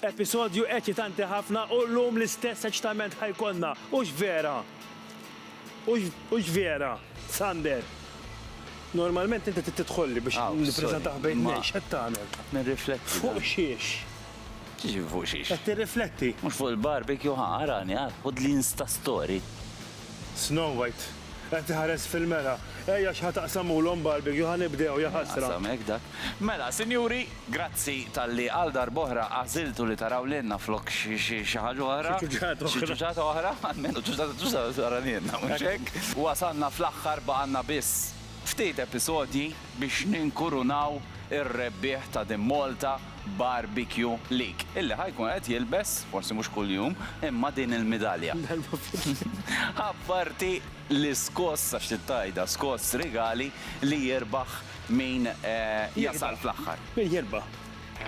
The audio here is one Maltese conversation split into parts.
Episodju eċitanti ħafna u llum l-istess eċitament ħa jkollna, hux vera? Hux vera, Sander? Normalment inti trid tidħolli biex nippreżentah bejn tnejn, x'qed tagħmel? Qed nirrifletti. Fuq xiex? X'jiġifieri fuq xiex? Qed tirrifletti? Mhux fuq il-barbecue, ħa arani, ara, ħudli Instastory. Snow White, qed tiħares fil-mera, Ej għax ħa taqsamulhom barbecue, ħa nibdew, jaħasra! Ehm, hekk dak. Mela, sinjuri, grazzi talli għal darb'oħra għażiltu li taraw lilna flok xi ħaġa oħra. Xi ċuċata oħra. Xi ċuċata oħra, almenu ċuċata ċuċata tara lilna, mhux hekk? Wasalna fl-aħħar, baqgħalna biss ftit episodji. biex ninkurunaw ir-rebbieħ ta' din Malta Barbecue League, illi ħa jkun qed jilbes, forsi mhux kuljum, imma din il-midalja. Apparti l-iskoss, għax trid tgħidha skoss, rigali li jirbaħ min jasal fl-aħħar. Min jirbaħ.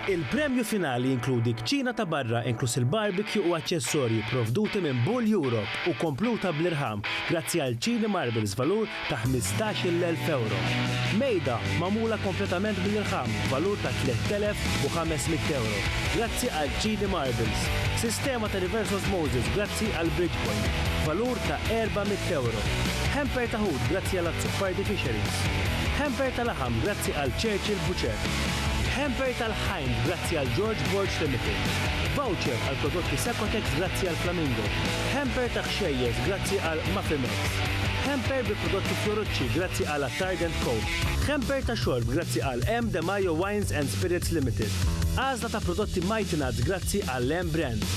Il-premju finali jinkludi kċina ta' barra inkluż il-barbecue u aċċessorji pprovduti minn Bull Europe u kompluta bl-irħam grazzi għal Chini Marbles b'valur ta' ħmistax-il elf ewro. Mejda magħmula kompletament bl-irħam b'valur ta' tlett elef u ħames mitt ewro grazzi għal Chini Marbles. Sistema ta' reverse osmosis grazzi għal Bridgepoint b'valur ta' erba' mitt ewro. Hamper ta' ħut grazzi għal Azzopardi Fisheries. Hamper ta' laħam grazzi għal Churchill Butcher. Hamper tal-ħajn grazzi għal George Borg Limited. Voucher għal prodotti Secotex grazzi għal Flamingo. Hamper ta' ħxejjeż grazzi għal Mafimex. Hamper bi prodotti Fiorucci grazzi għal Attard and Co. Hamper ta' xorb grazzi għal M. De Majo Wines and Spirits Limited. Għażla ta' prodotti Mighty Nuts grazzi għall-M Brand.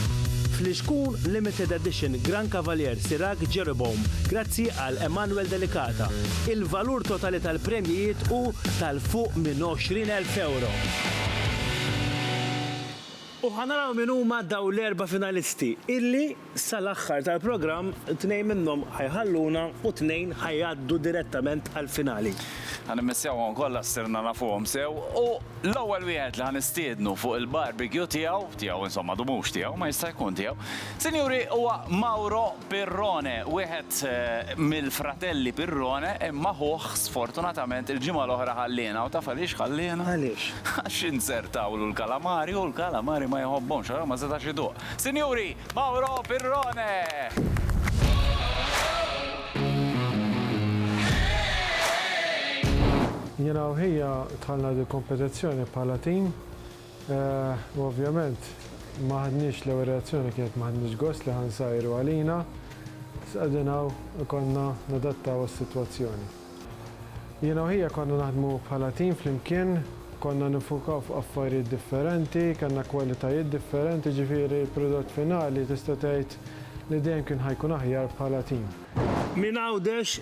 Flixkun Limited Edition Gran Cavalier Sirag Jeroboam grazzi għal Emanuel Delicata. Il-valur totali tal-premjijiet hu ta' fuq minn 20,000 ewro. U ħa naraw min huma dawn l-erba' finalisti illi sal-aħħar tal-programm tnejn minnhom ħa jħalluna u tnejn ħa jgħaddu direttament għall-finali. Ħa nimmissjawhom kollha ssirna nafuhom sew u l-ewwel wieħed li ħa nistiednu fuq il-barbecue tiegħu, tiegħu insomma du mhux tiegħu, ma jista' jkun tiegħu, Sinjuri, huwa Mauro Pirrone, wieħed mill-fratelli Pirrone, imma ħuh sfortunatament il-ġimgħa l-oħra ħalliena u taf għaliex ħalliena? Għaliex? Għax inzertawlu l-kalamari u l-kalamari ma jħobbhomx, allura ma setax iduq. Sinjuri, Mauro Pirrone! Jiena u ħija dħalna dil-kompetizzjoni bħala tim U ovvjament ma ħadniex l-ewwel reazzjoni kienet ma ħadniex gost li ħa nsajru għalina, iżda qegħdin hawn ikollna nadattaw għas-sitwazzjoni. Jiena u ħija konna naħdmu bħala tim flimkien, konna niffukaw fuq affarijiet differenti, kellna kwalitajiet differenti, jiġifieri l-prodott finali tista' tgħid li dejjem kien ħa jkun aħjar bħala tim. Minn Għawdex,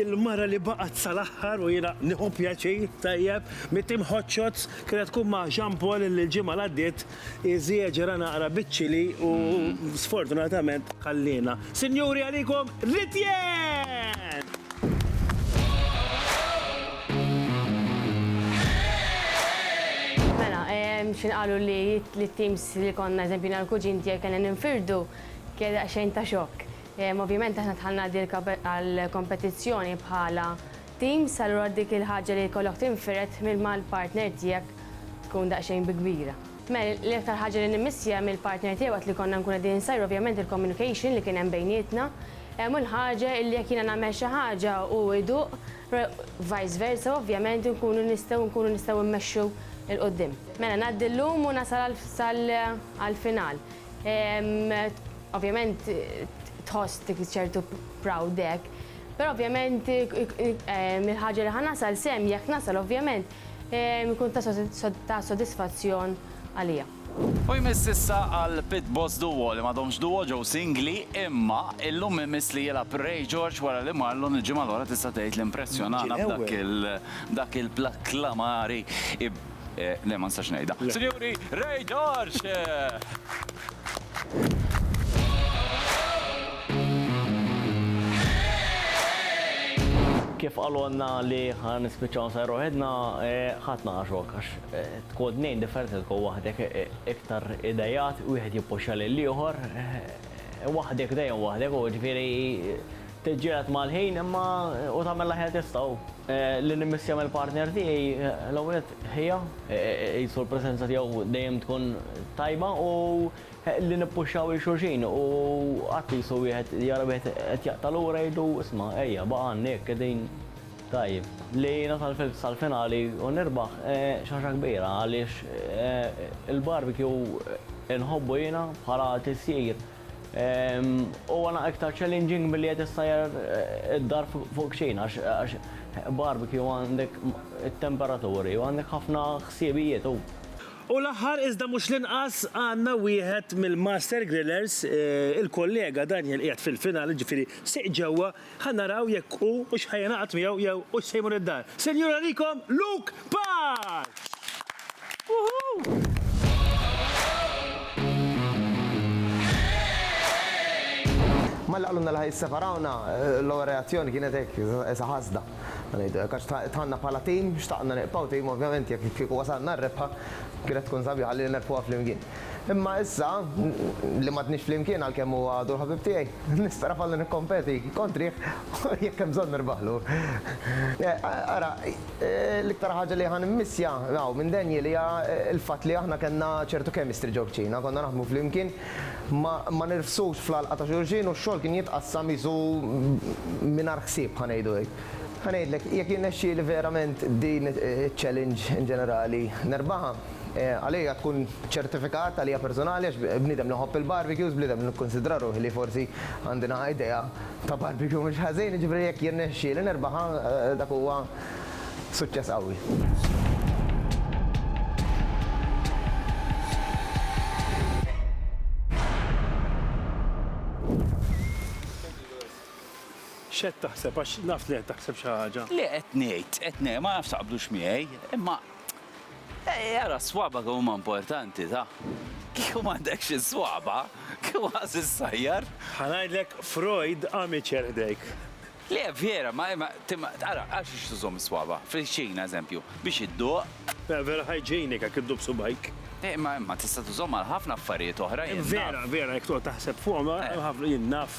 il-mara li baqgħet sal-aħħar u jiena nieħu pjaċir, tajjeb, mit-tim Hot Shots kienet tkun ma' Jean Paul illi l-ġimgħa l-għaddiet iżieġera naqra biċ-ċili u sfortunatament ħalliena. Sinjuri għalikom Ritiens! Mela, x'inqalu li t-teams li konna, eżempju jiena u l-kuġin tiegħi kellna ninfirdu, kienet daqsxejn ta' xokk. Ovvjament aħna dħalna dik għall-kompetizzjoni bħala teams, allura dik il-ħaġa li jkollok tinfired minn mal-partner tiegħek tkun daqsxejn bi kbira. Mel, l-iktar ħaġa li nimmissja mill-partner tiegħi waqt li konna nkunu qegħdin insajru ovvjament il-communication li kien hemm bejnietna, u l-ħaġa li jekk jiena nagħmel xi ħaġa u hu jduq, vice versa ovvjament inkunu nistgħu nkunu nistgħu mmexxu 'l quddiem. Mela ngħaddi llum u nasal sal-final. Ovvjament tħoss dik ċertu proud hekk. Però ovvjament il-ħaġa li ħa nasal sehem, jekk nasal ovvjament, ikun ta' sodisfazzjon għalija. U jmiss issa għal Pit Boss Duo li m'għadhomx duo ġew singli imma illum imiss li jilgħab Ray George wara li Marlon il-ġimgħa l-oħra tista' tgħid li impressjonana b'dak il-dak il-plakklamari Le, ma nistax ngħidha. Sinjuri, Ray George! Kif qalulna li ħa nispiċċaw nsajru waħedna, ħadd ma għaxok għax tkun tnejn differenti tkun waħdek iktar idejat, wieħed jippuxxa lill-ieħor, waħdek dejjem waħdek u ġifieri Tiġġieled mal-ħin imma u tagħmel l-aħjar tista' u. Li nimmissja mill-partner tiegħi l-ewwel nett ħija, qisu l-preżenza tiegħu dejjem tkun tajba u li nippuxxaw 'il xulxin u qatt qisu wieħed jara wieħed qed jaqta' lura jgħidlu isma' ejja baqa' għandi hekk qegħdin tajjeb. Li nasal sal-finali u nirbaħ xi ħaġa kbira għaliex il-barbecue inħobbu jiena bħala tisjir. Huwa naqra iktar challenging milli qed issajjar id-dar fuq kċina għax barbecue għandek it-temperaturi u għandek ħafna ħsiebijiet u. U l-aħħar iżda mhux l-inqas għandna wieħed mill-master grillers, il-kollega Daniel qiegħed fil-finale, jiġifieri sieq ġewwa, Ħa naraw jekk hu hux ħa jingħaqad miegħu jew hux se jmur id-dar. Se njur għalikom Luke Park! Malli qalulna li ħa jisseparawna, l-ewwel reazzjoni kienet hekk, qisha ħasda, ħa ngħidu hekk, għax dħalna bħala tim, xtaqna niqbgħu tim, ovvjament jekk kieku wasalna r-rebħa kienet tkun sabiħa li nerbħuha flimkien. Imma issa, li m'għadniex flimkien għalkemm huwa għadu l-ħabib tiegħi, nista' nafallu nikkompeti kontrih u jekk hemm bżonn nirbaħlu. Ara, l-iktar ħaġa li ħa nimmissja hawn minn Daniel hija l-fatt li aħna kellna ċertu chemistry ġol-kċina, konna naħdmu flimkien, ma nirfsux fl-għalqa ta' xulxin u x-xogħol kien jitqassam qisu mingħajr ħsieb, ħa ngħidu hekk. Ħa ngħidlek, jekk jirnexxieli verament din iċ-challenge in ġenerali nerbaħha, Għalija tkun ċertifikat, għalija personali, għax bniedem li nħobb il-barbecues, bniedem li nikkunsidra ruħi li forsi għandi naqa' idea ta' barbecue mhux ħażin, jiġifieri jekk jirnexxieli nirbaħha dak huwa suċċess qawwi. X'qed taħseb għax naf li qed taħseb xi ħaġa? Le qed ngħid, qed ngħid, ma nafx taqblux miegħi, imma Ej ara s-swaba kemm huma importanti, ta? Kieku m'għandekx is-swaba, kieku ħass is-sajjar. Ħa ngħidlek Freud amateur ħdejk. Le, vera, ma ma timma ara għal xiex tużhom is-swaba? Fil-kċina, eżempju, biex idduq. Le, vera hygienic jekk idduq b'subgħajk. Eh, imma imma tista' tużhom għal ħafna affarijiet oħra, jien naf. Vera, vera, jekk toqgħod taħseb fuqhom, hemm ħafna, jien naf.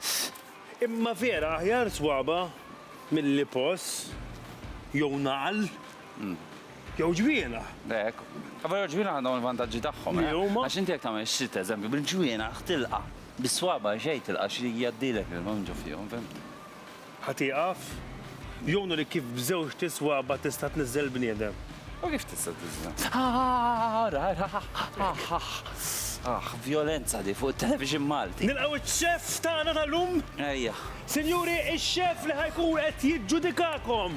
Ss. Imma vera aħjar swaba' milli poss jew nagħal jew ġwienaħ. Hekk. Però l-ġwienaħ għandhom il-vantaġġi tagħhom, eh? Li huma? Għax inti jekk tagħmel xit, eżempju, bil-ġwienaħ tilqa', bis-swaba' xejn tilqa' għax jgħaddilek il-ma minn ġo fihom, fehmtni? Ħa tieqaf? Jew nurek kif b'żewġ tiswaba tista' tniżżel bniedem. U kif tista' tniżżel? Ara, ara, aħ, aħ. Aħ, vjolenza di fuq it-television Malti. Nilqgħu ċ-chef tagħna tal-lum. Ejja. Sinjuri, ix-chef li ħa jkun qed jiġġudikakom!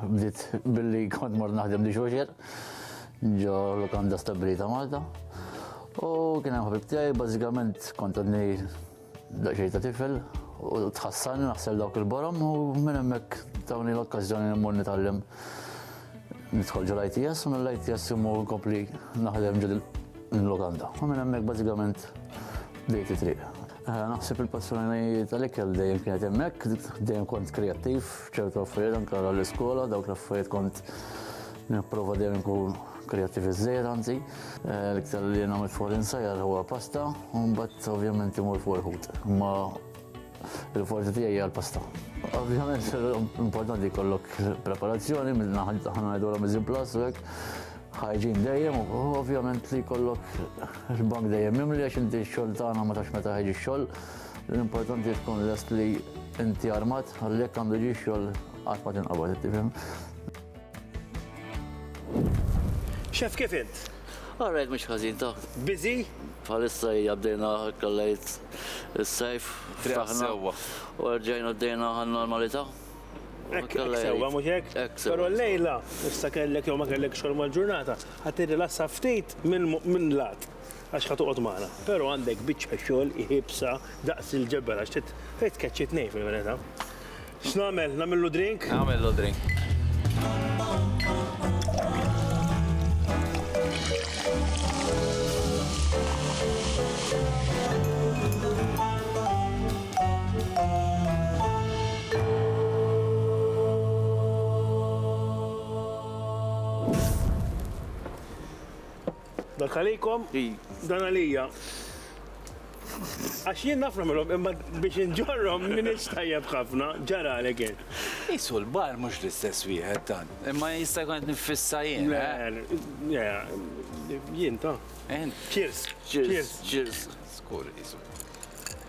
Bdiet billi kont mort naħdem li xoxer ġo l-kanda stabilita Malta. U kien hemm ħabib tiegħi bażikament kont għadni daqsxejn ta' tifel u tħassan naħsel dawk il-borom u minn hemmhekk tawni l-okkażjoni li mmur nitgħallem nidħol ġol ITS u mill-ITS immur kompli naħdem ġod l-lokanda. U minn hemmhekk bażikament bdejt it-triq. Naħseb il-passjoni tal-ikel dejjem kienet hemmhekk, dejjem kont kreattiv, ċertu affarijiet anke l-iskola, dawk l-affarijiet kont nipprova dejjem nkun kreattiv iżejjed anzi. Eh, l-iktar li nagħmel fuq l-insajjar huwa pasta, u mbagħad ovvjament imur fuq il-ħut. Ma il-forza tiegħi hija l-pasta. Ovvjament importanti jkollok preparazzjoni minn naħa ħana ngħidu l-Amazon Plus u hekk ħajġin dejjem u ovvjament li kollok il-bank dejjem mimli għax inti xol tagħna ma tax meta ħajġi xol. L-importanti tkun lest li inti armat għallek għandu ġi xol qatt ma tinqabad tifhem. Xef kif int? Għarrejt mhux ħażin ta' biżi? Bħalissa hija bdejna kollejt is-sajf. Ftaħna. U rġajna bdejna għan-normalità. Hekk sewwa mhux hekk? Però llejla, issa kellek jew ma kellekx xogħol mal-ġurnata, ħa tirrilassa ftit minn lat għax ħa toqgħod magħna. Però għandek biċċa xogħol iebsa daqs il-ġebel għax trid tkeċċi tnejn fil-verità. X'nagħmel? Nagħmillu drink? Nagħmillu drink. Dak għalikom? Dan għalija. Għax jien nafna minnhom imma biex inġorrom minn istajjeb ħafna ġara għalek jien. Isu l-bar mhux l-istess wieħed dan. Imma jista' jkun qed nifissa jien. Jien ta'. Cheers. Cheers. Cheers. Skur isu.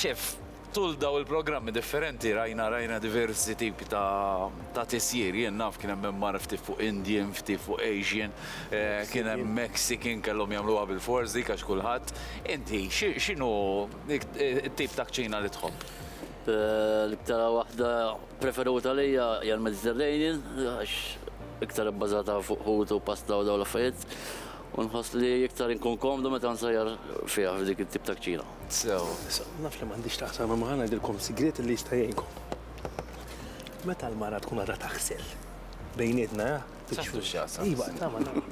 Ċef, tul dawn il-programmi differenti rajna rajna diversi tipi ta' tisjir. Jien naf kien hemm MR ftit fuq Indian, ftit fuq Asian, eh, kien hemm Mexican kellhom jagħmluha bil-fors dik għax kulħadd. Inti x'inhu t-tip ta' kċina li tħobb? Eh, l-iktar waħda preferuta lejja hija l-Mediterranean għax iktar ibbażata fuq ħut u pasta u dawn l-affarijiet. U nħoss li iktar inkun komdu meta nsajjar fiha f'dik it-tip ta' kċina. sew. Issa, naf li m'għandix taqsam imma ħa ngħidilkom sigriet li jista' jgħinkom. Meta l-mara tkun għadha taħsel bejnietna, ja? Saħtu x'jaqsam. Iva, tama, tama.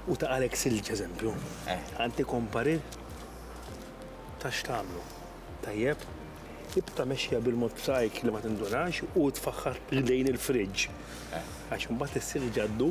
U ta' għalek silġ eżempju. Eh. Għanti kompari ta' x'tagħmlu. Tajjeb? Ibta mexja bil-mod b'sajk li ma tindunax u tfaħħar lejn il-friġġ. Eh. Għax imbagħad is-silġ għaddu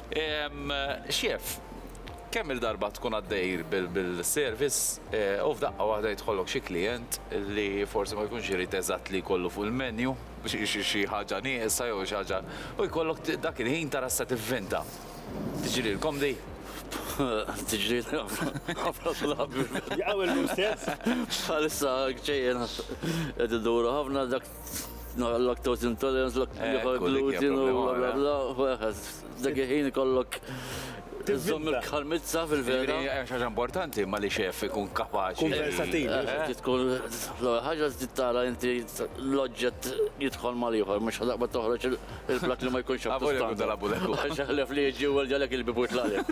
Xief, kemm il-darba tkun għaddej bil-service u f'daqqa waħda jidħollok xi klijent li forsi ma jkunx irid eżatt li jkollu fuq il-menu xi ħaġa nieqsa jew xi ħaġa u jkollok dak il-ħin tara x'se tivvinta. Tiġrilkom di? Tiġrilna ħafna drabi. Jaqgħu l-mustezz. Bħalissa ġejjin qed iduru ħafna dak. lactose intolerance, lactose gluten, bla bla bla, dak il-ħin ikollok Zom il-karmizza fil-vera. ħaġa importanti ma li xef ikun kapaċi. Konversativ. Eh, eh, tkun l-ħaġa tittara inti l-oġġett jidħol mal-ieħor, mhux ħadaqba toħroġ Il-blat li ma jkunx A voglia con della bulecu. Għax ħlef li jġi u ġalek il-bibu tlalek.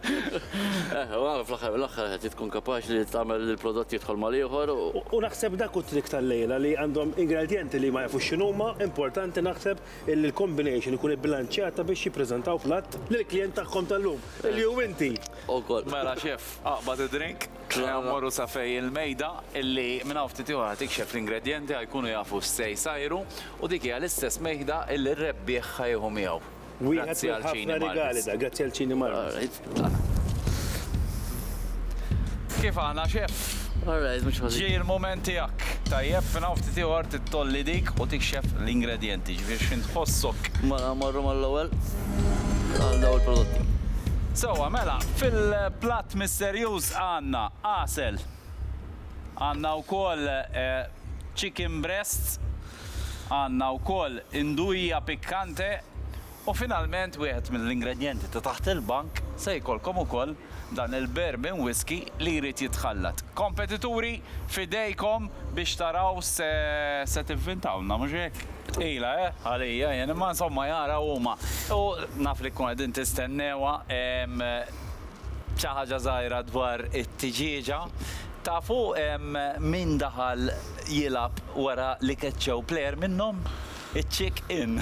Eh, u għal fl-axar mill-axar għet tkun kapax li tagħmel li l-prodott jidħol ma liħor. U naħseb dak u trik tal-lejla li għandhom ingredjenti li ma jafux x'inhuma, importanti naħseb illi l-combination ikun ibbilanċjata biex jippreżentaw platt lill-klijent tagħhom tal-lum, illi hu inti. Ukoll. Mela chef, aqbad id-drink. Ejja mmorru sa fej il-mejda illi minn hawn ftit ieħor ħa tikxef l-ingredjenti, ħa jkunu jafu x'se jsajru u dik hija l-istess mejda illi r-rebbieħ ħa jieħu miegħu. Wieħed mill ħafna rigali da, grazzi għal Cini Marvis. Kif aħna chef? Alright, mhux ħażin. Ġej il-mument tiegħek. Tajjeb, minn hawn ftit ieħor tittolli dik u tikxef l-ingredjenti, ġifieri x'int tħossok. Mela mmorru mal-ewwel għal dawn il-prodotti. Sewwa mela, fil-platt Serjuż għandna għasel. Għandna wkoll chicken breasts, għandna wkoll induja piccante u finalment wieħed mill-ingredjenti ta' taħt il-bank se jkollkom ukoll dan il-bourbon whisky li jrid jitħallat. Kompetituri, f'idejkom biex taraw se se tivvintawlna, mhux hekk? Tqila, eh? Għalija jien, imma insomma jara huma. U naf li tkunu qegħdin tistennewha. Xi ħaġa żgħira dwar it-tiġieġa. Tafu min daħal jilgħab wara li keċċew plejer minnhom? Iċ-chick in.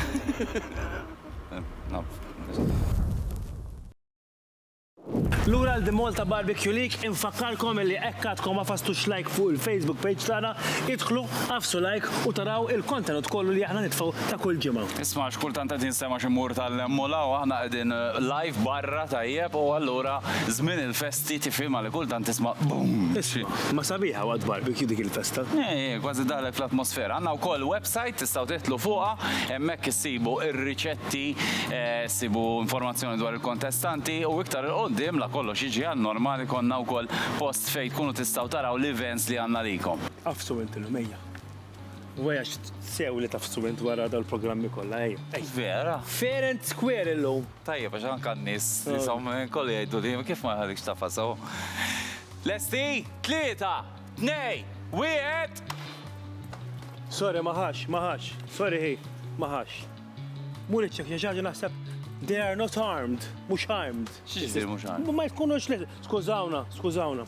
Lura għal The Malta Barbecue League, infakkarkom illi hekk għadkom ma fastux like fuq il-Facebook page tagħna, idħlu, agħfsu like u taraw il-kontenut kollu li aħna nitfgħu ta' kull ġimgħa. Isma' x'kultant qed jinstema' xi mur tal-hemm u 'l hawn, aħna qegħdin live barra tajjeb u allura żmien il-festi tifhimha li kultant tisma' boom! Isma' sabiħa waqt barbecue dik il-festa. Hi hi, kważi ddaħħlek fl-atmosfera. Għandna wkoll website tistgħu tidħlu fuqha, hemmhekk issibu r-riċetti, issibu informazzjoni dwar il-kontestanti u iktar 'il quddiem, la kollox jiġi għan-normal, ikollna wkoll post fejn tkunu tistgħu taraw l-events li għandna għalikom. Għafsu inti l-għmejja. Wesh, sew li taf student wara dal programmi kollha ej. Vera? Fair and square illum. Tajjeb għax anke n-nies li oh. som kolli jgħidu li kif ma ħadikx tafa sew. Lesti, tlieta, tnej, wieħed. Sorry, maħax, maħax. Sorry, hi, maħax. Muriċek, xaġa naħseb They are not armed, mux armed. Xieġi mux armed? Ma jkunux li, skużawna, skużawna.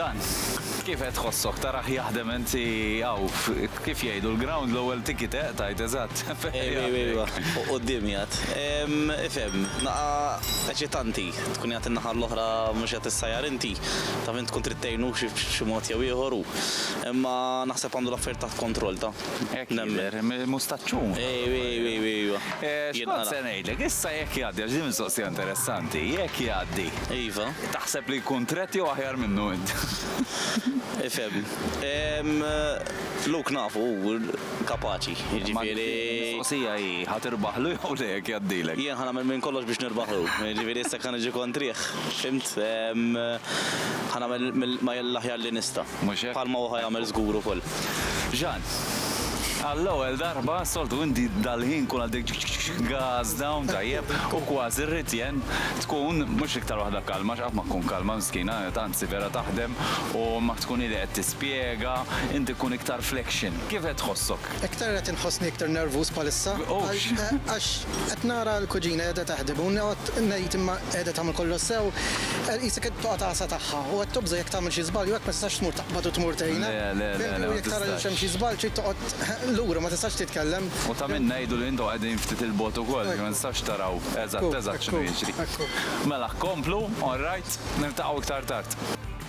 Dan, kif qed tħossok taraħ jaħdem inti hawn kif jgħidu l-ground l-ewwel tiki teq tajt eżatt. Ejwa, quddiemi għad. Ifhem, naqa' eċitanti tkun qiegħed in-naħa l-oħra mhux qed issajjar inti, taf int tkun trid tgħinu b'xi mod jew ieħor hu. Imma naħseb għandu l-affarijiet taħt kontroll, ta. Hekk jidher, mustaċċun. Ejwa, ejwa, ejwa. Xkont se ngħidlek, issa jekk jgħaddi, għax din mistoqsija interessanti, jekk jgħaddi. Iva. Taħseb li jkun tret jew aħjar minnu int? Ifhem. Luke nafu hu kapaċi, jiġifieri. Mistoqsija hi, ħa tirbaħlu jew le jekk jgħaddilek? Jien ħa nagħmel minn kollox biex nirbaħlu, jiġifieri issa jekk ħa niġi kontrih, fhimt? Ħa nagħmel mill-aħjar li nista'. mhux hekk? Bħalma hu ħa jagħmel żgur ukoll. Jean, Għall-ewwel darba, soltu inti dal-ħin kun għaddejk ċik ċik ċik gas down tajjeb u kważi rrid Jean tkun mhux l-iktar waħda kalma għax qatt ma tkun kalma miskina, anzi vera taħdem u ma tkun hi li qed tispjega, inti tkun iktar flexion. Kif qed tħossok? Iktar qed inħossni iktar nervuż bħalissa. Ufx! Għax qed nara l-kuġina qiegħda taħdem u noqgħod ngħid imma qiegħda tagħmel kollox sew? Qisek qed toqgħod għasa tagħha u qed tobża' jekk tagħmel xi żball jew hekk ma tistax tmur taqbad u tmur tgħinha. Le, le, le, le, ma tistax. Fimtni? U jekk tara li hemm xi żball trid toqgħod lura, ma tistax titkellem. U ta' minnha jgħidu li intom qegħdin ftit 'il bogħod ukoll, jiġifieri ma tistgħux taraw eżatt eżatt x'inhu jiġri. Mela, komplu, all right, niltaqgħu iktar tard.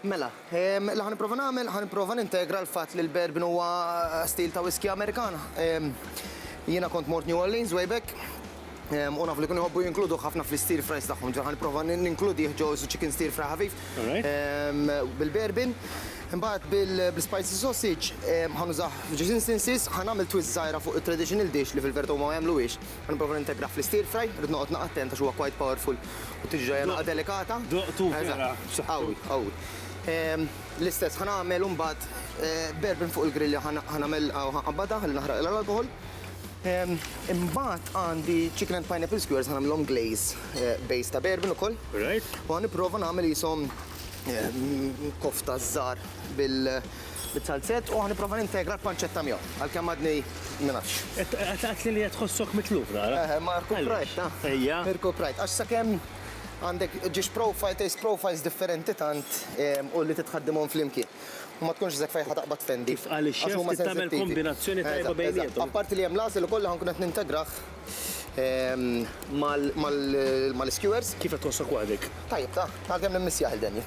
Mela, li ħa nipprova nagħmel, ħa nipprova nintegra l-fatt li l-Bourbon huwa stil ta' whiskey Amerikan. Jiena kont mort New Orleans way back, u naf li kienu jħobbu jinkluduh ħafna fl-stir fries tagħhom, ġifieri ħa nipprova ninkludih ġo chicken stir fry ħafif bil-Bourbon. Imbagħad bil-spicy sausage ħa nużah f'ġuż instances, ħa nagħmel twist żgħira fuq it-traditional dish li fil-verità huma ma jagħmluhiex, Meta nipprova nintegra fl-istir fry, irrid noqgħod naqa' attent għax huwa quite powerful u tiġi ġejja naqa' delikata. Doqtu vera b'saħħtu. Qawwi, qawwi. L-istess ħa nagħmel imbagħad b'bourbon fuq il-grillja ħa nagħmel u ħa nqabbadha ħalli naħraqilha l-alkoħol. Imbagħad għandi chicken and pineapple skewers ħa nagħmilhom glaze base ta' bourbon ukoll. Right. U ħa nipprova nagħmel qishom kofta żgħar Bit-salzett u ħa nipprova nintegra l-panċetta miegħu, għalkemm għadni ma nafx. Għedtli li qed tħossok mitluf nara. Eħe, ma rkuprajt, ta? Ejja. Irkuprajt, għax sakemm għandek dish profile, taste profiles differenti tant u li titħaddimhom flimkien. U ma tkunx żekk fejn ħa taqbad tfendi. Kif qal ix-xef trid tagħmel kombinazzjoni tajba bejniethom. Apparti li hemm l-għasel ukoll li ħa nkun qed nintegrah mal-iskewers. Kif qed tħossok waħdek? Tajjeb, ta? Għalkemm nimmissjah il-Daniel.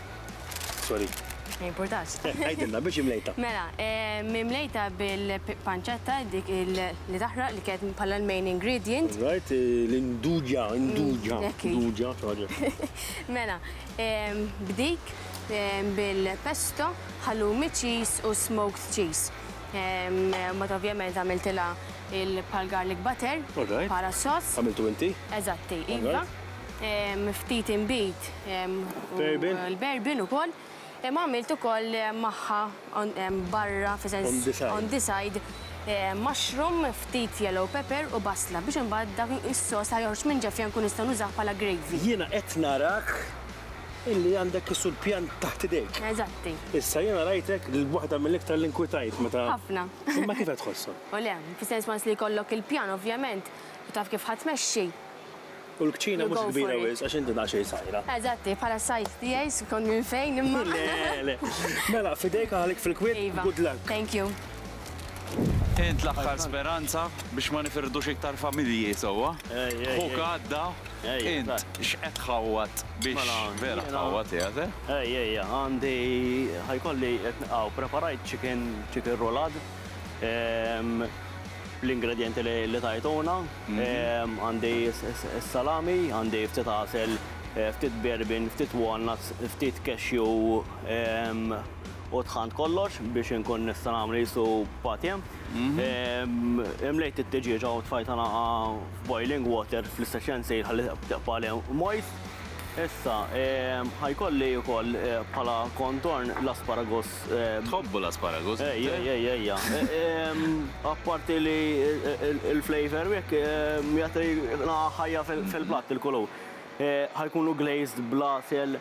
Sorry. Ma jimpurtax. Għidilna, biex imlejta. Mela, mimlejta bil-panċetta dik li taħraq li kienet bħala l-main ingredient. Right, l-induġa, induġa, induġa, ħaġa. Mela, b'dik bil-pesto, halloumi cheese u smoked cheese. Mbagħad ovvjament għamiltilha il-pal garlic butter bħala s-soss. Għamiltu inti? Eżatti, iva. ftit inbid u l-berbin ukoll, imma għamilt ukoll magħha barra on the side mushroom, ftit yellow pepper u basla biex imbagħad dak is-sos li joħroġ minn ġefja nkun nista' nużah bħala gravy. Jiena qed narak illi għandek is-sur pjan taħt idejk. Eżatti. Issa jiena rajtek waħda mill-iktar li nkwitajt meta. Ħafna. Imma kif qed tħossok? O le, fis-sens once li jkollok il-pjan ovvjament u taf kif ħa tmexxi, U l-kċina mhux kbira wisq għax inti daqsxejn sajra. Eżatti, bħala sajt tiegħi skont minn fejn imma. Le, le. Mela, fidejk għalik fil-kwiet, iva. good luck. Thank you. Int l-aħħar speranza biex ma nifirdux iktar familji sewwa. Ħuk għadda, int x'qed tħawwad biex mela, vera tħawwad qiegħed. Eh? Ej, ej, għandi ħajkolli hawn preparajt chicken chicken roulad ehm, l-ingredienti li tajtuna, Għandi s-salami, għandi ftit għasel, ftit bourbon, ftit walnuts, ftit cashew u tħannt kollox biex inkun nista' nagħmel qisu patje. Imlejt it-tiġieġa u tfajtha nagħha f'boiling water fl-istess ħin sejr ħalli tibqa' għalih moist. Issa ħa jkolli wkoll bħala contorn l-asparagus Tħobbu l-asparagus? Ejja, ejja, ejja. Apparti li l-flavor hekk jagħti naħa ħajja fil-platt il-kulur. Ħajkunu glazed bl-għasel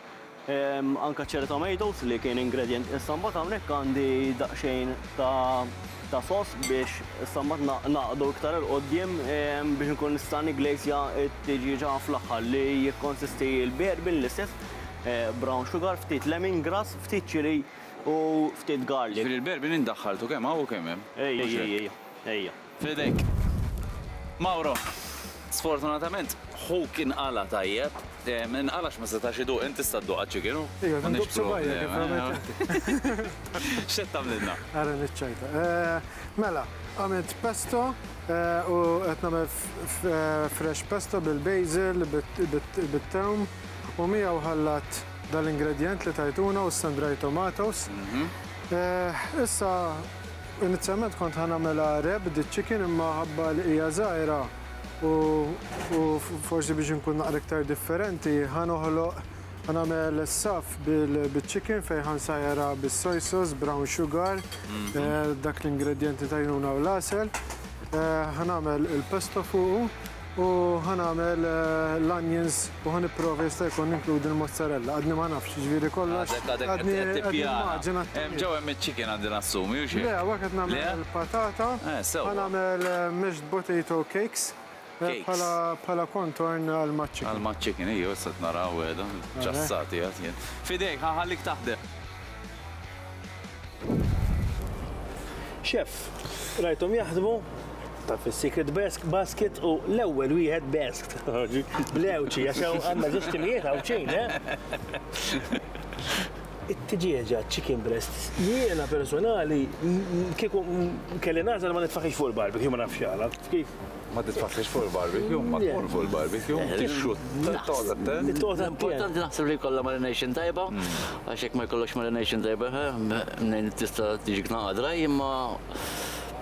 anke cherry tomatoes li kien ingredient. Issa mbagħad hawnhekk għandi daqsxejn ta' sauce biex issa mbagħad ngħaqqdu iktar 'il quddiem biex inkun nista' nigglazja t-tiġieġa fl-aħħar li jikkonsisti l-bourbon l-istess, brown sugar, ftit lemongrass, Ftit chili u ftit garlic. Jiġifieri l-berbi min daħħaltu, kemm hawn u kemm hemm? Ejja, ejja, ejja, ejja. F'idejk. Mauro, sfortunatament ħuk inqala' tajjeb. Inqala' għax ma setax iduq, int tista' dduq għaċ-chicken? Ejja, nduq b'subgħajja kif għamilt inti. X'qed tagħmlilna? Ara niċċajta. Mela, għamilt pesto u qed nagħmel fresh pesto bil-basil, bit-tewm u miegħu ħallat. dal ingredjent li tajtuna u sun dried tomatoes. Issa inizjalment kont ħa nagħmilha wrapped iċ-chicken imma ħabba li hija żgħira u forsi biex inkun naqra iktar differenti ħa noħloq ħa nagħmel saff bil-chicken fejn ħa nsajjarha bis-soy sauce, brown sugar, dak l-ingredjent li tajnuna u l-għasel. Ħa nagħmel il-pesto fuqu. U ħa nagħmel l-onions u ħa nipprova jista' jkun ninkludi l-mozzarella. Għadni ma nafx, jiġifieri kollox. Għadek għadek qed qed tippjana. Hemm ġew hemm iċ-chicken għandi nassumi, hux hekk? Le, hawnhekk qed nagħmel il-patata. Eh, sewwa. Ħa nagħmel mashed potato cakes bħala bħala contorn għall-maċ-chicken. Għall-maċ-chicken, ejjew issa qed nara hawn qiegħda, ċassati qed jien. F'idejk, ħa nħallik taħdem. Chef, rajthom jaħdmu? Taf is-secret basket u l-ewwel wieħed b'eskt. Blewċi, għax hawn għandna żewġ timijiet hawn xejn, eh? It-tiġieġa chicken breast, jiena personali kieku kelli nagħżel ma nitfaħix fuq il-barbecue ma nafx għala. Kif? Ma titfassix fuq il-barbecue, ma tkun fuq il-barbecue. Tixxu, taqgħod attent. Taqgħod Importanti naħseb li jkollha marination tajba, għax jekk ma jkollokx marination tajba, mnejn tista' tiġik naqa' draj, imma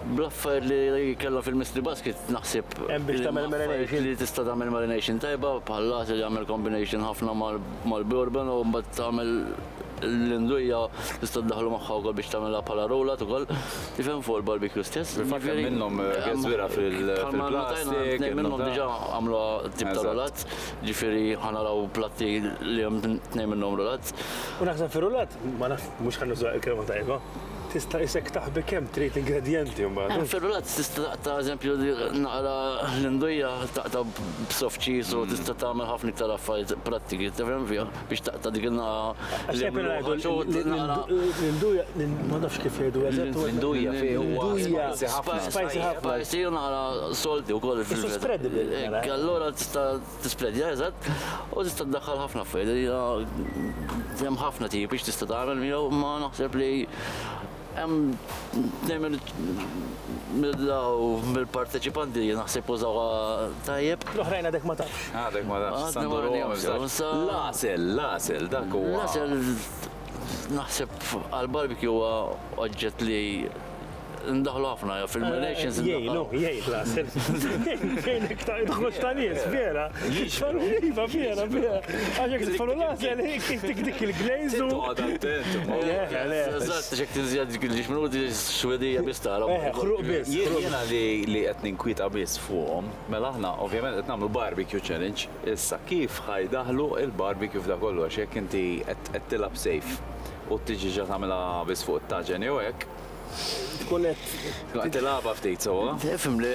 bl-affair li kellha fil-mystery basket naħseb. Hemm biex tagħmel marination. Li tista' tagħmel marination tajba, bħal lat li jagħmel combination ħafna mal-bourbon u mbagħad tagħmel l-indujja tista' ddaħħlu magħha wkoll biex tagħmilha bħala rollout ukoll. Tifhem fuq il-barbecue stess. Fil-fatt hemm minnhom gazwira fil-plastik. Hemm minnhom diġà għamlu tip ta' rollout, ġifieri ħanaraw platti li hemm tnejn minnhom rollouts. U naħseb fir-rollout, ma nafx, mhux ħa nuża l-kelma tajba, tista' isek taħbi kemm trid ingredjenti mbagħad. Fir-rollouts tista' taqta' eżempju naqra l-indujja taqta' b'soft cheese u tista' tagħmel ħafna iktar affarijiet prattiki, tifhem fiha. biex taqta' dik il-naqa. L-induja, ma nafx kif jgħidu eżatt. L-induja fi huwa spicy ħafna. Spicy ħafna. Spicy u nara solti wkoll. It's spreadable. Mela. Allura tista' tispredja eżatt u tista' ddaħħal ħafna affarijiet. Hemm ħafna tipi x'tista' tagħmel miegħu imma naħseb li Hemm tnejn mill-parteċipanti naħseb użawha tajjeb. L-oħrajn għadek ma tafx. Għadek ma tafx. L-għasel, l-għasel, dak huwa. L-għasel naħseb għall-barbecue huwa oġġett li ndaħlu ħafna fil-relations. Jgħinu, jgħin l-għasel. Jgħin iktar idħlux ta' nies, vera. Iva, vera, vera. Għaxek t-tfallu lazel, dik dik il-glazed. Għad attent. Eżatt, xek t-zjad dik il-ġiġ minuti xwedija bis tara. Eh, xruq bis. Jena li għet ninkwita bis fuqom, mela ħna, ovvjament, għet namlu barbecue challenge. Issa, kif ħajdaħlu il-barbecue f'da kollu, għax jek inti għet tilab sejf u t-ġiġa tamela bis fuq t-taġen jew hekk. Kunet. Tilaba ftit, so. Fimli,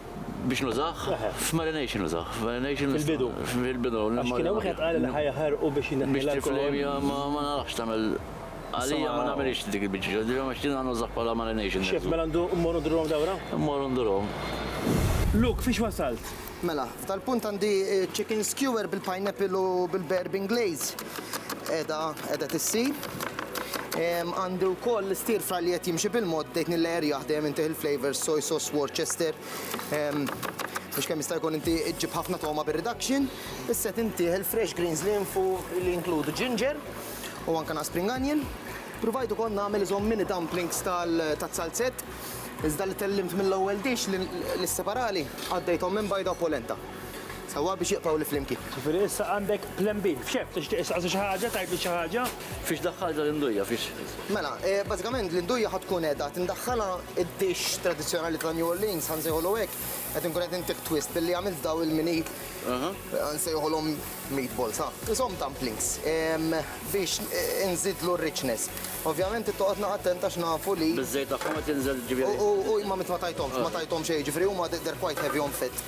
biex nużah? F'marination nużah. F'marination. Fil-bidu. Fil-bidu. Għax kien hemm wieħed qal li ħajaħarqu biex jneħħi. Biex tiflejmi ma narax tagħmel Għalija ma nagħmilix dik il-biċċa, ġifieri ma xtina nużah bħala marination. Xef, mela ndu mmorru ndurhom dawra? Mmorru ndurhom. Luke, fiex wasalt? Mela, f'dal-punt għandi chicken skewer bil-pineapple u bil-bourbon glaze. qiegħda qiegħda tissir. Għandi wkoll l-stir fry li qed jimxi bil-mod bdejt nillerjaħ dejjem intih il-flavors soy sauce Worcester biex kemm jista' jkun inti ġġib ħafna togħma bir-reduction. Issa qed intih il-fresh greens li hemm fuq li jinkludu ginger u anke naqs spring onion. Pruvajt ukoll nagħmel iżhom mini dumplings tal-salzett iżda li tellimt mill-ewwel dish li sseparali qaddejthom minn bajda u polenta. Sewwa biex jibqgħu 'l flimkien. Ġifieri issa għandek plan B. F'xemm? Tixtieq issaqsi xi ħaġa, tgħidli xi ħaġa? Fiex daħħaltha l-indujja, fiex? Mela, bażikament l-indujja ħa tkun qiegħda tindaħħalha id-dish tradizzjonali ta' New Orleans, ħa nsejħulu hekk, qed inkun qed intih twist billi għamilt dawn il-mini, ħa nsejħulhom meatballs, ħa, qishom dumplings, biex inżidlu r-richness. Ovvjament trid toqgħod naqra attent għax nafu li. Biż-żejt tagħhom qed jinżel, ġifieri. U ma tajthomx, ma tajthomx xejn, ġifieri huma they're quite heavy on fat.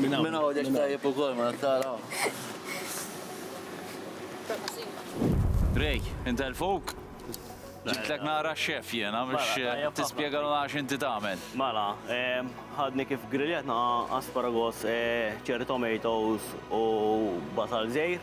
Minn hawn. Minn hawn għax tajjeb ukoll ma tara. Ray, intelfuk? Ġibtlek nara x-chef jiena biex tispjegalna għax inti tagħmel. Mela, ħadni kif griljatna asparagus, cherry tomatoes u basal żgħir.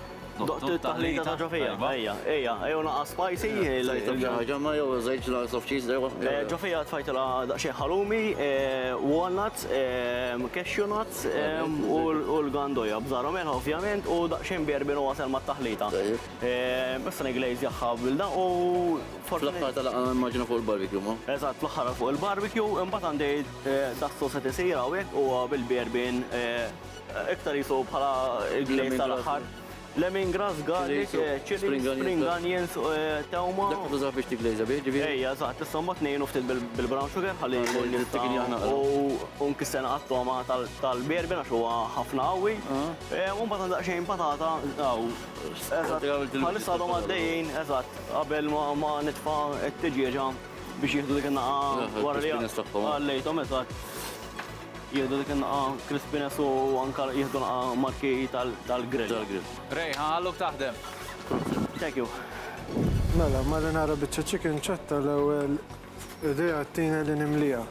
Doqt it-taħlita ta' ġofija. Ejja, ejja, ejja naqa' spicy. Ħaġa ma jew żejt slice of cheese dejwa. Eh, ġofija tfajtilha daqsxejn ħalumi, eh, walnuts, eh, cashew nuts u l-gandoja b'żarhom melħa ovvjament u daqsxejn bierbin u għasel mat-taħlita. Issa niglaze jaħħa bilda u Fl-aħħar tal-laqgħa nimmaġina fuq il-barbecue, ma? Eżatt, fl-aħħar fuq il-barbecue, imbagħad għandi das-sosset isir hawnhekk huwa bil-bierbin Iktar jisu bħala il-gliet tal-aħħar. Lemongrass, garlic, chili, spring onions, tewma. Dak tuża biex tiglejza bih, ġifieri? Ejja, eżatt, issa mbagħad ngħinu ftit bil-brown sugar ħalli jkun jista' u nkissena għat-togħma tal-berben għax huwa ħafna qawwi. U mbagħad daqsxejn patata u bħalissa għadhom għaddejjin, eżatt, qabel ma nitfa' t-tiġieġa biex jieħdu dik in-nagħqa wara li għallejthom, eżatt. Jieħdu dik in-naqgħa crispiness u anke jieħdu naqgħa marki tal-grill. Rejha, għallok taħdem. Thank you. Mela, marinara biċċa chicken ċatta l-ewwel idea tina li nimliha.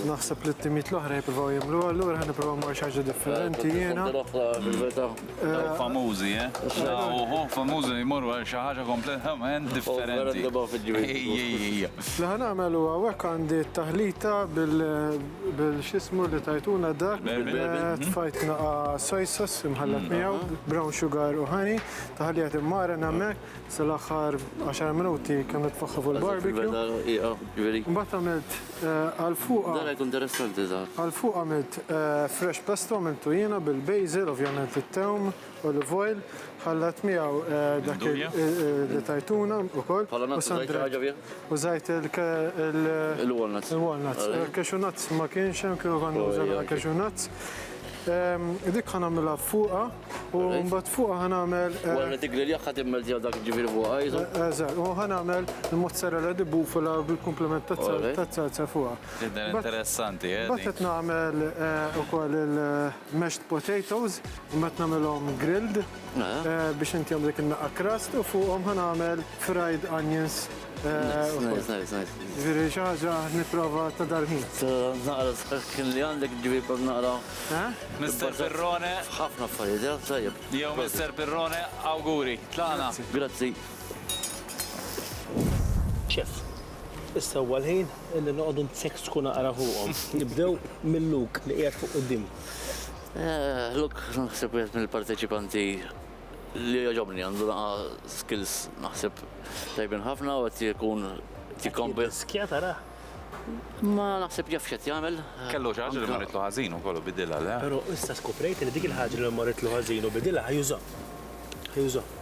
Naħseb li t-timijiet l-oħra jippruvaw jagħmluha, allura ħa nipprova mmur xi ħaġa differenti jiena. Dawk famużi, eh? Uhu, famużi li jmorru għal xi ħaġa kompletament differenti. Ejja, ejja, ejja. Li ħa nagħmel huwa hawnhekk għandi t-taħlita bil-. Bil xismu li tajtuna dak. Tfajt naqa soy sauce imħallat miegħu, brown sugar u honey. Taħlija timmara hemmhekk sal-aħħar 10 minuti kemm tfaħħa fuq il-barbecue. Mbagħad għamilt għal fuq. Dan qed interessanti żgħar. Għal fuq għamilt fresh pesto għamiltu jiena bil-basil, ovvjament it-tewm. Olive oil, ħallat miegħu dak li tajtuna ukoll. U Sandra użajt il-walnuts. Il-walnuts. Cashew nuts ma kienx hemm kieku konna użajna cashew nuts. Dik ħa nagħmilha fuqha u mbagħad fuqha ħa nagħmel. Wara li tiggrilja ħa timmeltja dak ġifieri fuqha jisu. Eżatt, u ħa nagħmel il-mozzarella di bufala bil-kumpliment taz-zalza fuqha. Tidher interessanti, eh? Mbagħad qed nagħmel ukoll il- Mashed potatoes, imbagħad nagħmilhom grilled biex intihom dik in-naqqa crust u fuqhom ħa nagħmel fried onions ukoll. Nice, nice, nice. Jiġifieri xi ħaġa nipprova ta' dal-ħin. Naqra skin li għandek ġifieri kont naqra. Mister Pirrone. F'ħafna affarijiet, eh? Tajjeb. Jew Mister Pirrone, awguri. Tlaqna. Grazzi. Chef, issa huwa l-ħin Li noqogħdu nseksku naqra fuqhom. Nibdew minn Luke li qiegħed fuq quddiem. Luke naħseb wieħed mill-parteċipanti li jogħġobni, għandu naqa' skills naħseb tajbin ħafna u qed ikun qed jikkombi. Jirriskja tarah? Imma naħseb jaf x'qed jagħmel. Kellu xi ħaġa li marritlu ħażin ukoll u bidilha, le? Però issa skoprejt li dik il-ħaġa li marritlu ħażin u bidilha ħa jużaha. Ħa jużaha.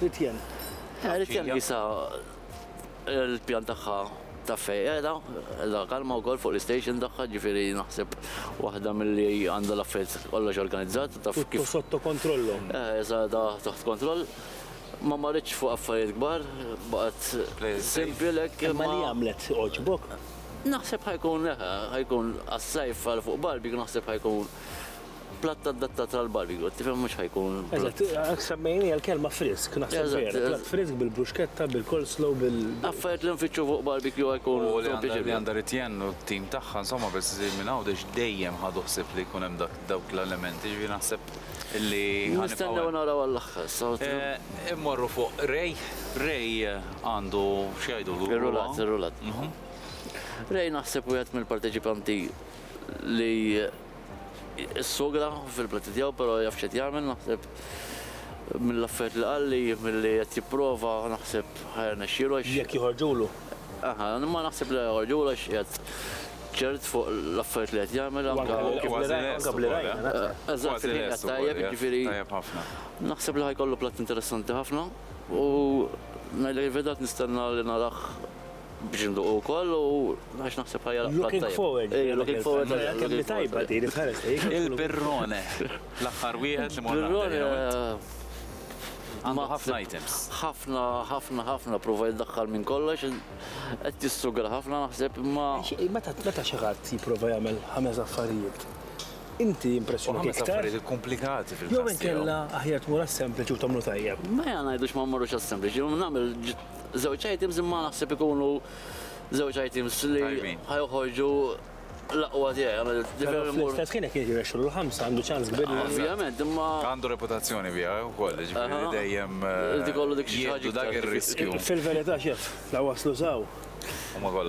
Ritjen. Eh, Ritjen jisa l-pjan tagħha ta' fejqeda, la kalma u fuq l-station tagħha ġifiri naħseb waħda mill-li għandha l-affet kollox organizzat. Tutto sotto kontrollo. Eh, sa da taħt kontroll. Ma marriċ fuq affarijiet kbar, baqgħet simpilek. Ma li għamlet oġbok? Naħseb ħajkun, eh, ħajkun għas-sajf għal fuq barbi, naħseb ħajkun Platt adattat għal barbecue, tifhem mhux ħa jkun. Eżatt, hekk semmejniha l-kelma frisk, naħseb vera. Platt frisk bil-bruxketta, bil-coleslaw, bil. Affarijiet li nfittxu fuq barbecue ħa jkun. U li għandha Ritienne u t-tim tagħha, insomma, biss iżid minn hawn għax dejjem ħadu ħsieb li jkun hemm dawk l-elementi, jiġifieri naħseb li. Nistennew naraw għall-aħħar issa. Immorru fuq Ray. Ray għandu x'jgħidulu. Ir-rulat, ir-rulat. Ray naħseb wieħed mill-parteċipanti li Is-sugra fil-prati tiegħu però jaf x'qed jagħmel naħseb mill-affarijiet li qalli, milli qed jipprova naħseb ħajrnexxielu għax. Jekk joħorġulu. Aha, ma naħseb li joħorġulu għax qiegħed ċert fuq l-affarijiet li qed jagħmel anke. Eżatt, tajjeb, jiġifieri. Tajjeb ħafna. Naħseb li ħajkollu platt interessanti ħafna u ngħidlek il-verità qed nistenna li narah Biex induqu wkoll u għax naħseb ħajja laqgħa tajba. Looking forward. Ejja, looking forward. Kemm li tajba din, itħares lejk. Il-Birrone, l-aħħar wieħed li morna. Il-Birrone għandu ħafna items. Ħafna, ħafna, ħafna prova jiddaħħal minn kollox, qed jistrugla ħafna naħseb imma. Meta meta xi ħadd jipprova jagħmel ħames affarijiet. Inti impressjonat iktar. Ħames affarijiet komplikati fil-fatt. Jew inkella aħjar tmur għas-sempliċi u tagħmlu tajjeb. Ma ngħidux ma mmorrux għas-sempliċi, nagħmel żewġ items imma naħseb ikunu żewġ items li ħajoħorġu l-aqwa tiegħi. Fl-istess kien jekk jirrexxu l-ħamsa għandu ċans kbir. Ovvjament, imma. Għandu reputazzjoni bija eh, wkoll, ġifieri dejjem. Eh, ikollu dik xi ħaġa dak ir-riskju. Fil-verità xef, la waslu żaw.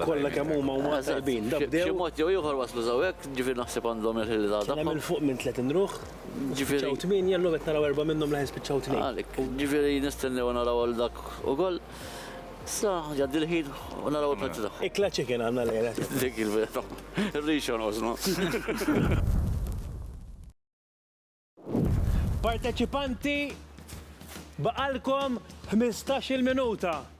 Kollha kemm huma huma tajbin. Xi mod jew ieħor waslu żaw hekk, ġifieri naħseb għandhom il-ħilda. Hemm il fuq minn 30 ruħ. Ġifieri. Spiċċaw tmienja, llum qed naraw erba' minnhom leħen spiċċaw tnejn. Għalik. Ġifieri nistennew naraw lil dak ukoll. Sa jgħaddi l-ħin u naraw il-prezzi tagħhom. Ikla chicken għandna llejla. Dik il-verità. Ir-rix jonqosna. Parteċipanti, baqalkom ħmistax-il minuta.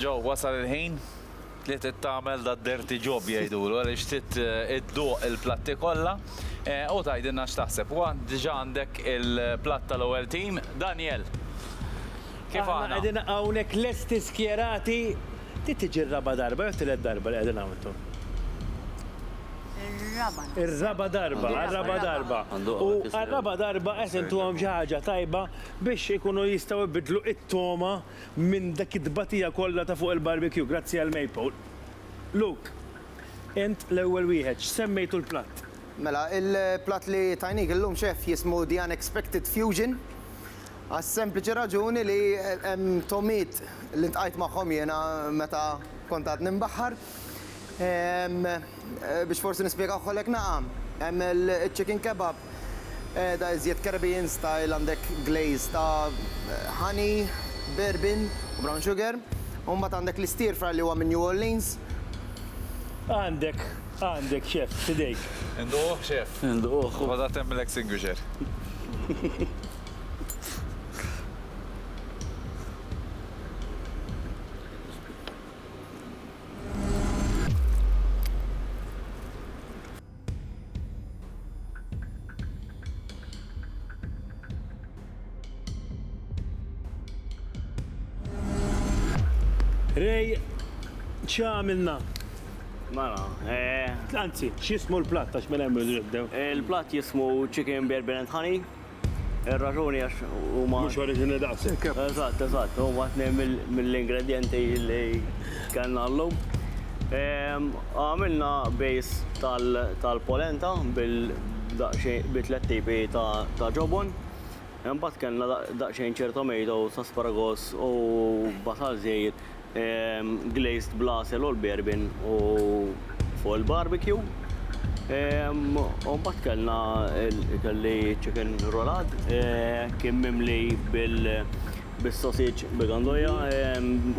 Joe, wasal il-ħin li trid tagħmel da dirty job jgħidulu għaliex trid idduq il-platti kollha u tgħidilna x'taħseb. Huwa diġà għandek il-platt tal-ewwel tim, Daniel. Kif aħna? Aħna qegħdin hawnhekk lesti skjerati. Trid tiġi r-raba' darba jew t-tielet darba li qegħdin hawn intom? Ir-raba' naħseb. Ir-raba' darba, għar-raba' darba. U għar-raba' darba qed intuhom xi ħaġa tajba biex ikunu jistgħu jbiddlu it-togħma minn dik it-tbatija kollha ta' fuq il-barbecue, grazzi għal Maypole. Luke, int l-ewwel wieħed, x'semmejtu l-platt? Mela, il-platt li tajnik illum, Chef, jismu The Unexpected Fusion, għas-sempliċi raġuni li hemm togħmiet li ltqajt magħhom jiena meta kont għadni mbaħħar. Biex forsi nispjegawha lek naqra, hemm iċ-chicken kebab, Qiegħda iżjed Caribbean style għandek glaze ta' honey, bourbon u brown sugar. U mbagħad għandek l-stir fry li huwa minn New Orleans. Għandek, għandek chef, f'idejk. Induquh chef. Induquh. Ħodha temp mill-extinguisher. Rej, ċamilna? Mela, eh. Anzi, xismu l-platt, għax mela jemmu jibdew. Il-platt jismu chicken beer beer and honey, Ir-raġuni għax huma. Mhux oriġini daqshekk. Eżatt, eżatt, huma tnejn mill-ingredjenti li kellna llum. Għamilna bejs tal-polenta bi tliet tipi ta' ġobon. Imbagħad kellna daqsxejn ċertomato, sasparagus u basal żejjed. glazed bl-għasel u l-bourbon u fuq il-barbecue. U mbagħad kellna kelli chicken roulade, kien mimli bis-sausage bi gandoja,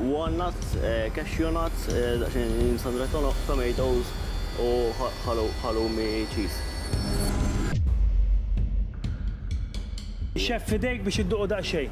walnuts, cashew nuts, daqsxejn sun-dried tomatoes u halloumi cheese. Chef f'idejk biex idduqu daqsxejn.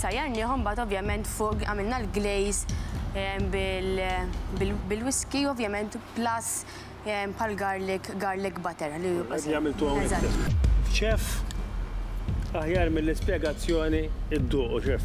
Sajjarniehom mbagħad ovvjament fuq għamilna l-glaze bil-whiskey ovvjament plus bħal garlic, garlic butter. Chef, aħjar mill-ispjegazzjoni dduqu, chef.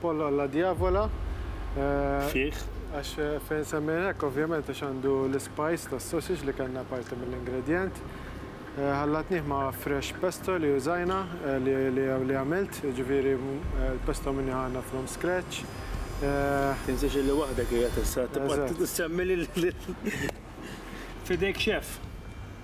Pollo alla diavola. Fih. Għax fejn semmejna hekk ovvjament għax għandu l-ispajs tas-sausage li kellna parti mill-ingredjent. Ħallatnih ma' fresh pesto li użajna li għamilt, jiġifieri l-pesto minni ħana from scratch. Tinsiex illi waħdek qiegħed issa, tibqa' tsemmi lil. F'idejk chef.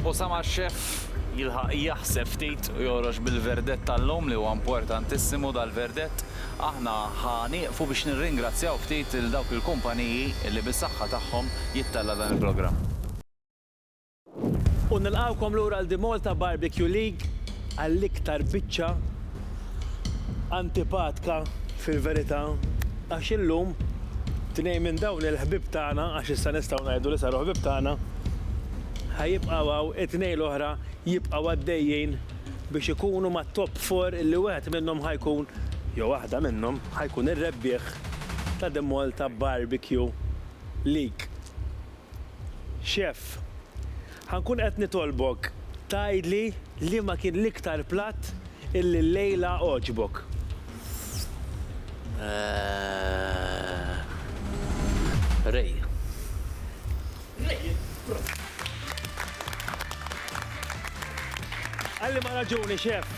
Osama x-xeff jilħaq jaħseb ftit u joħroġ bil-verdett tal-lum li huwa importantissimu dal-verdett. Aħna ħa nieqfu biex nirringrazzjaw ftit lil dawk il-kumpaniji li bis-saħħa tagħhom jittella' dan il-programm. U nilqgħukom lura għal The Malta Barbecue League għall-iktar biċċa antipatka fil-verità għax illum tnejn minn dawn il-ħbieb tagħna, għax issa nistgħu ngħidu li saru ħbieb tagħna, ħa jibqgħu hawn, it-tnejn l-oħra jibqgħu għaddejjin biex ikunu mat-top four li wieħed minnhom ħa jkun, jew waħda minnhom, ħa jkun ir-rebbieħ ta' The Malta Barbecue League. Chef, Ħa nkun qed nitolbok tgħidli liema kien l-iktar platt illi llejla għoġbok. Ray. Għal liema raġuni, Chef?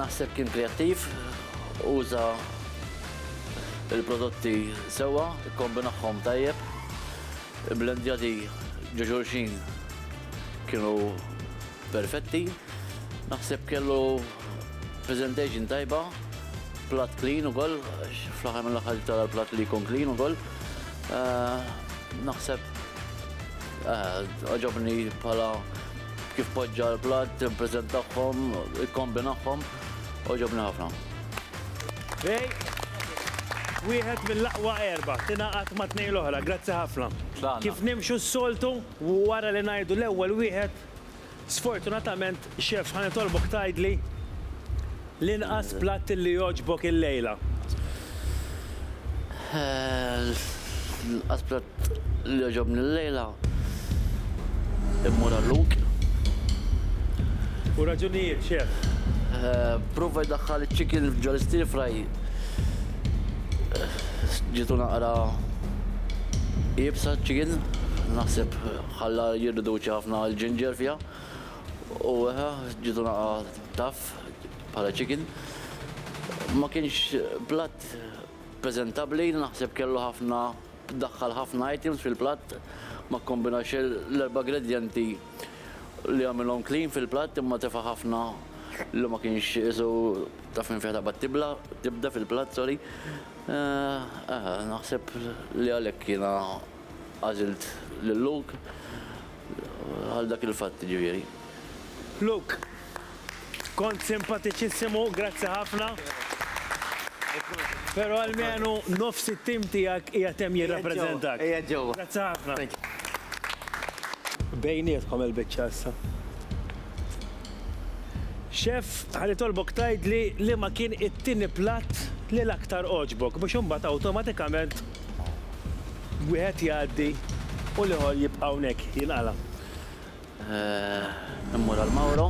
Naħseb kien kreattiv, uża. il-prodotti sewwa, ikkombinahom tajjeb, ibblendjati ġo xulxin kienu perfetti. Naħseb kellu presentation tajba, platt clean ukoll, għax fl-aħħar mill-aħħar trid tara l-platt li jkun clean ukoll. Naħseb għaġobni bħala kif poġġa l-platt, ippreżentahom, ikkombinahom. Oġobni ħafna. Bej, wieħed mill-aqwa erba, tingħaqad ma' tnejn l-oħra, grazzi ħafna. Kif nimxu s-soltu, wara li ngħidu l-ewwel wieħed, sfortunatament, Chef, ħa nitolbok tgħidli l-inqas platt li jogħġbok illejla. L-inqas platt. li jogħġobni llejla immur għall-lug. U raġunijiet, Chef? Pprova jdaħħal iċ-chicken ġo l-stir fry. Ġietu naqra iebsa ċ-chicken, naħseb ħalla jirriduċi ħafna l-ginger fiha. U eħe, ġietu naqra tough bħala chicken. Ma kienx platt preżentabbli, naħseb kellu ħafna Daħħal ħafna items fil-platt, ma kkombinax l-erba' gredjenti li jagħmilhom clean fil-platt imma tefa' ħafna li ma kienx qisu taf minn fejn taqbad tibla, tibda fil-platt sorry. Eh, naħseb li għalhekk jiena għażilt lil Luke għal dak il-fatt jiġifieri. Luke, Kont simpatiċissimu, grazzi ħafna. Però almenu nofs it-tim tiegħek qiegħed hemm jirrappreżentak. Qiegħed ġewwa. Grazzi ħafna. Bejnietkom il-biċċa issa. Chef, ħa nitolbok tgħidli liema kien it-tieni platt li l-aktar għoġbok biex imbagħad awtomatikament wieħed jgħaddi u l-ieħor jibqa' hawnhekk jinqala'. Immur għal Mauro.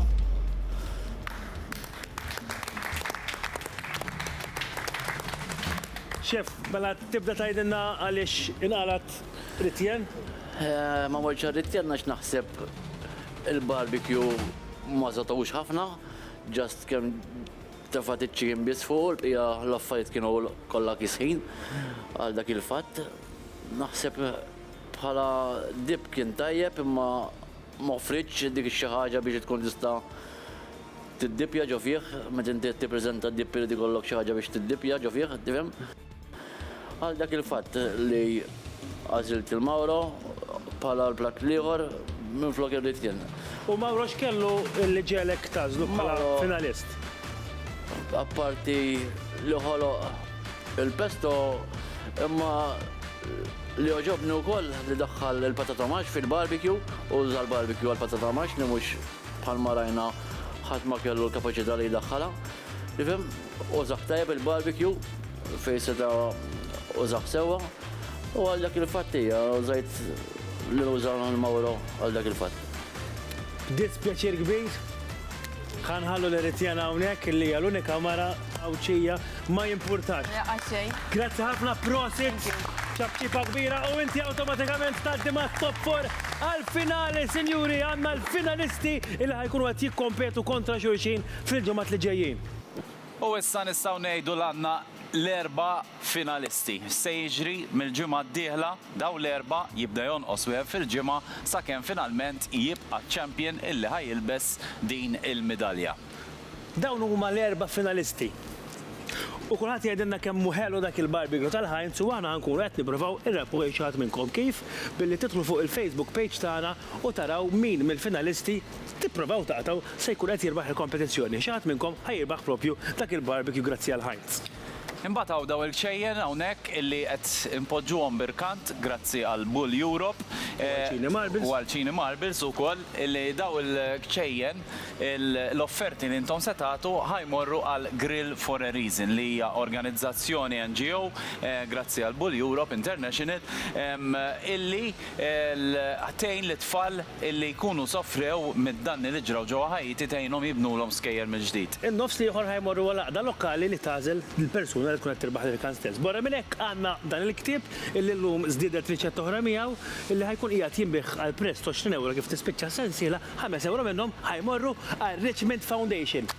Chef, mela tibda tgħidilna għaliex inqalgħet Ritjen? Ma mortx għal Ritjen għax naħseb il-barbecue ma żagħtawhux ħafna, just kemm tefgħet iċ-chicken biss fuqu, l-bqija l-affarijiet kienu kollha kisħin għal dak il-fatt. Naħseb Bħala dip kien tajjeb imma ma offrietx dik ix-xi ħaġa biex tkun tista' tiddippja ġo fih. Meta inti qed tippreżenta dip irid ikollok xi ħaġa biex tiddippja ġo fih, tifhem. Għal dak il-fatt li għażilt lil Mauro bħala l-platt l-ieħor minflok irrid jien. U Mauro x'kellu li ġegħlek tagħżlu bħala finalist? Apparti li ħoloq Il-pesto imma li għoġobni wkoll li daħħal il-patata max fil-barbecue u uża l-barbecue għall-patata max li mhux bħalma rajna ħadd ma kellu l-kapaċità li jdaħħalha. Tifhem? Użah tajjeb il-barbecue fejn seta' użah sewwa u għal dak il-fatt hija użajt li nuża l-Mauro għal dak il-fatt. B'dispjaċir kbir, ħa nħallu lil Etienne hawnhekk li hija l-unika mara Għawdxija, ma jimpurtax. Grazzi ħafna, prosit! ċabċipa kbira u inti awtomatikament tgħaddi ma' top 4 għal-finali, sinjuri, għandna l-finalisti il ħajkunu qed jikkompetu kontra xulxin fil-ġimgħat li ġejjin. U issa nistgħu ngħidu l-għandna l-erba' finalisti. X'se jiġri mill-ġimgħa d-dieħla? Dawn l-erba' jibda jonqos wieħed fil-ġimgħa sakemm finalment jibqa' ċ-champion illi ħa jilbes din il-midalja. Dawn huma l-erba' finalisti. U kulħadd jgħidilna kemm hu ħelu dak il-barbecue tal-Heinz u aħna ħankunu qed nippruvaw irrebbħu lil xi ħadd minnkom. Kif? Billi tidħlu fuq il-Facebook page tagħna u taraw min mill-finalisti, tipprovaw taqtgħu, se jkun qed jirbaħ il-kompetizzjoni. Xi ħadd minnkom ħa jirbaħ propju dak il-barbecue grazzi għal Heinz. Imbagħad hawn dawn il-kċejjen hawnhekk illi qed inpoġġuhom b'irkant grazzi għal Bull Europe. U għal Cini Marbles. U għal Cini Marbles ukoll illi dawn il-kċejjen l-offerti li intom se tagħtu ħa jmorru għal Grill for a Reason li hija organizzazzjoni NGO grazzi għal Bull Europe International illi tgħin lit-tfal illi jkunu sofrew mid-danni li ġraw ġewwa Ħaiti tgħinhom jibnulhom skejjel mill-ġdid. In-nofs l-ieħor ħa jmorru għal għaqda lokali li tagħżel l-persuna li tkun qed tirbaħ l-irkan stess. Barra minn hekk għandna dan il-ktieb illi llum żdiedet riċetta oħra miegħu illi ħa jkun qiegħed jinbiegħ għal prezz t'għoxrin ewro kif tispiċċa s-sensiela, ħames ewro minnhom ħa jmorru għar-Richmond Foundation.